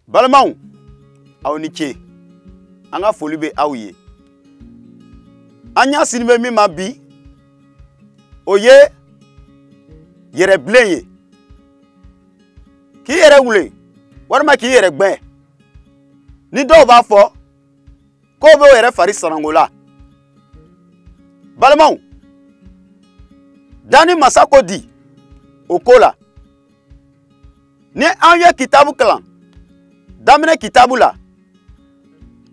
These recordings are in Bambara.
balimaw aw ni ce an ka foli bɛ aw ye an ɲasinni bɛ min ma bi o ye yɛrɛbilen ye k'i yɛrɛ wulen walima k'i yɛrɛ gbɛ ni dɔw b'a fɔ ko bɛ o yɛrɛ fari sananko la balimaw danni masa ko di o ko la ni an ye kitabu kalan daminɛ kitabu la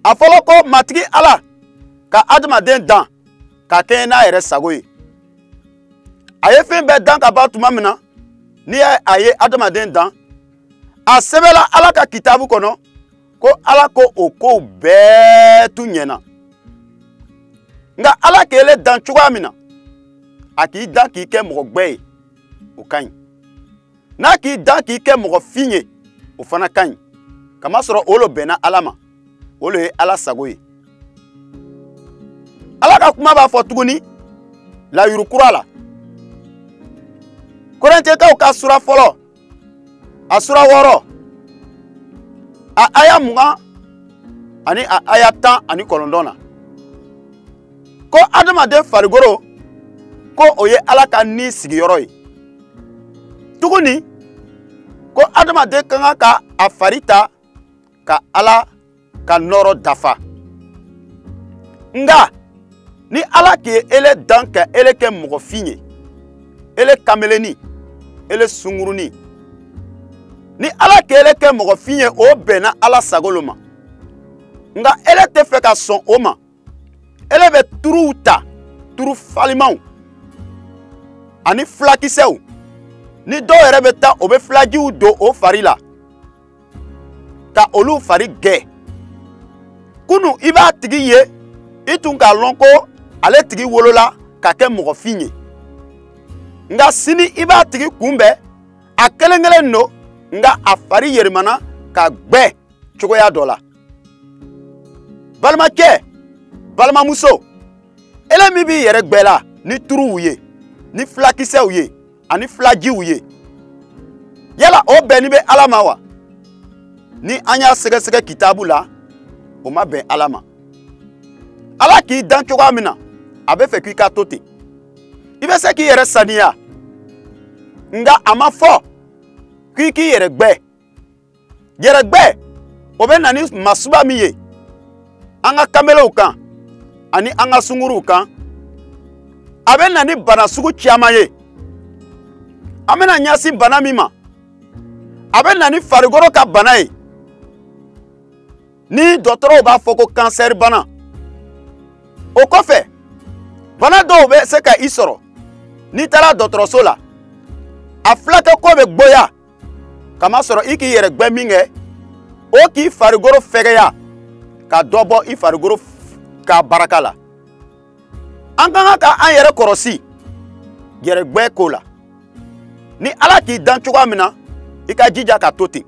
a fɔlɔ ko matigi ala ka adamaden dan ka kɛɲɛ n'a yɛrɛ sago ye a ye fɛn bɛɛ dan ka ban tuma min na ni a ye adamaden dan a sɛbɛnna ala ka kitabu kɔnɔ ko ala ko o kow bɛɛ tun ɲɛna nka ala k'ele dan cogoya min na a k'i dan k'i kɛ mɔgɔ gbɛ ye o ka ɲi n'a k'i dan k'i kɛ mɔgɔ fin ye o fana ka ɲi kamasɔrɔ o lo bɛnna ala ma o lo ye ala sago ye ala ka kuma b'a fɔ tuguni layuru kura la korɛntɛkaw ka sura fɔlɔ a sura wɔɔrɔ a aya mugan ani a aya tan ani kɔnɔntɔn na ko adamaden farikolo ko o ye ala ka ni sigiyɔrɔ ye tuguni ko adamaden ka kan ka a fari ta ka ala ka nɔɔrɔ dafa nka ni ala k'ele dan ka ele kɛ mɔgɔfin ye ele kameleni ele sunguruni ni ala k'ele kɛ mɔgɔfin ye o bɛnna ala sago lo ma nka ele tɛ fɛ ka sɔn o ma ele bɛ turuw ta turu farimanw ani filakisɛw ni dɔw yɛrɛ bɛ taa o bɛ filajiw don o fari la ka olu fari gbɛ kunu i b'a tigi ye i tun k'a lɔn ko ale tigi wolola ka kɛ mɔgɔfin ye nka sini i b'a tigi kunbɛn a kelen kelen don nka a fari yɛrɛmana ka gbɛ cogoya dɔ la balimakɛ balimamuso ele min b'i yɛrɛ gbɛ la ni turuw ye ni filakisɛw ye ani filajiw ye yala o bɛnni bɛ ala ma wa ni an y'a sɛgɛsɛgɛ kitabu la o ma bɛn ala ma ala k'i dan cogoya min na a bɛ fɛ k'i ka to ten i bɛ se k'i yɛrɛ saniya nka a ma fɔ k'i k'i yɛrɛ gbɛ yɛrɛgbɛ o bɛ na ni masuba min ye an ka kanbelew kan ani an ka sunguruw kan a bɛ na ni bana sugu caman ye an bɛna ɲɛsin bana min ma a bɛ na ni farikolo ka bana ye ni dɔgɔtɔrɔw b'a fɔ ko kansɛri bana o kɔfɛ bana dɔw bɛ se ka i sɔrɔ n'i taara dɔgɔtɔrɔso la a filakɛko bɛ gboya kamasɔrɔ i k'i yɛrɛ gbɛ min kɛ o k'i farikolo fɛgɛya ka dɔ bɔ i farikolo ka baraka la an ka kan ka an yɛrɛ kɔrɔsi yɛrɛgbɛ ko la ni ala k'i dan cogoya min na i ka jija ka to ten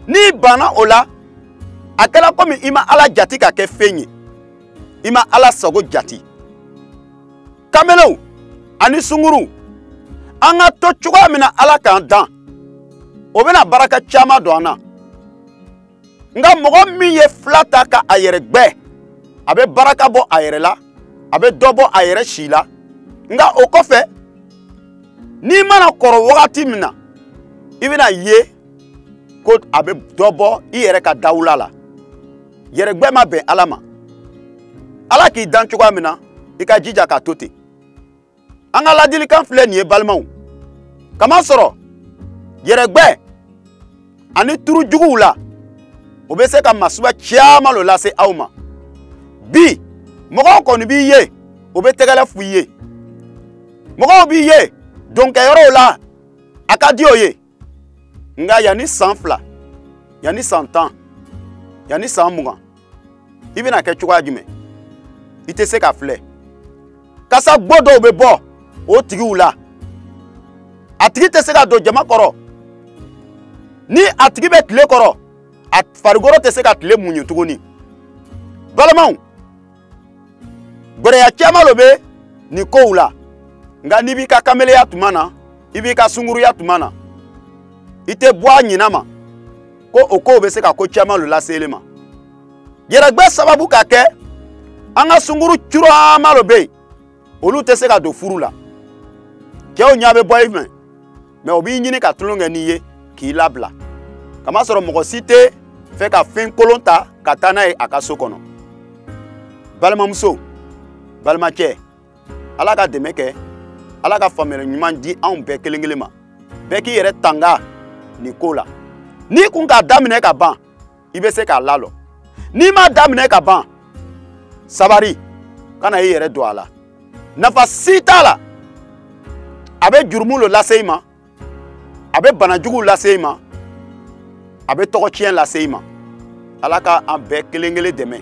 n'i banna o la a kɛla komi i ma ala jati ka kɛ fɛn ye i ma ala sago jati kamelenw ani sunguruw an ka to cogoya min na ala k'an dan o bɛna baraka caman don an na nka mɔgɔ min ye fila ta ka a yɛrɛ gbɛ a bɛ baraka bɔ a yɛrɛ la a bɛ dɔ bɔ a yɛrɛ si la nka o kɔfɛ n'i mana kɔrɔ wagati min na i bɛn'a ye ko a bɛ dɔ bɔ i yɛrɛ ka dawula la yɛrɛgbɛ ma bɛn ala ma ala k'i dan cogoya min na i ka jija ka to ten an ka ladilikan filɛ nin ye balimaw kamasɔrɔ yɛrɛgbɛ ani turu juguw la o bɛ se ka masuba caman lo lase aw ma bi mɔgɔw kɔni b'i ye o bɛ tɛgɛlɛ f'i ye mɔgɔw b'i ye donkɛyɔrɔw la a ka di o ye nka yanni san fila yanni san tan yanni san mugan i bɛna kɛ cogoya jumɛn i tɛ se ka filɛ kasa gbo dɔw bɛ bɔ o tigiw la a tigi tɛ se ka don jama kɔrɔ ni a tigi bɛ tile kɔrɔ a farikolo tɛ se ka tile muɲu tuguni balimaw gbɛlɛya caman lo bɛ nin kow la nka n'i b'i ka kameleya tuma na i b'i ka sunguruya tuma na i tɛ bɔ a ɲinan ma ko o kow bɛ se ka ko caman lo lase ele ma yɛrɛgbɛ sababu ka kɛ an ka sunguru caman lo bɛ yen olu tɛ se ka don furu la cɛw ɲɛ bɛ bɔ i fɛ mais o b'i ɲini ka tulon kɛ n'i ye k'i labila kamasɔrɔ mɔgɔ si tɛ fɛ ka fɛn kolon ta ka taa n'a ye a ka so kɔnɔ balimamuso balimacɛ ala ka dɛmɛ kɛ ala ka faamuyali ɲuman di anw bɛɛ kelen kelen ma bɛɛ k'i yɛrɛ tanga nin ko la n'i kun k'a daminɛ ka ban i bɛ se k'a lalɔ n'i m'a daminɛ ka ban sabari kana i yɛrɛ don a la nafa si t'a la a bɛ jurumu lo lase i ma a bɛ bana juguw lase i ma a bɛ tɔgɔ tiɲɛ lase i ma ala ka an bɛɛ kelen kelen dɛmɛ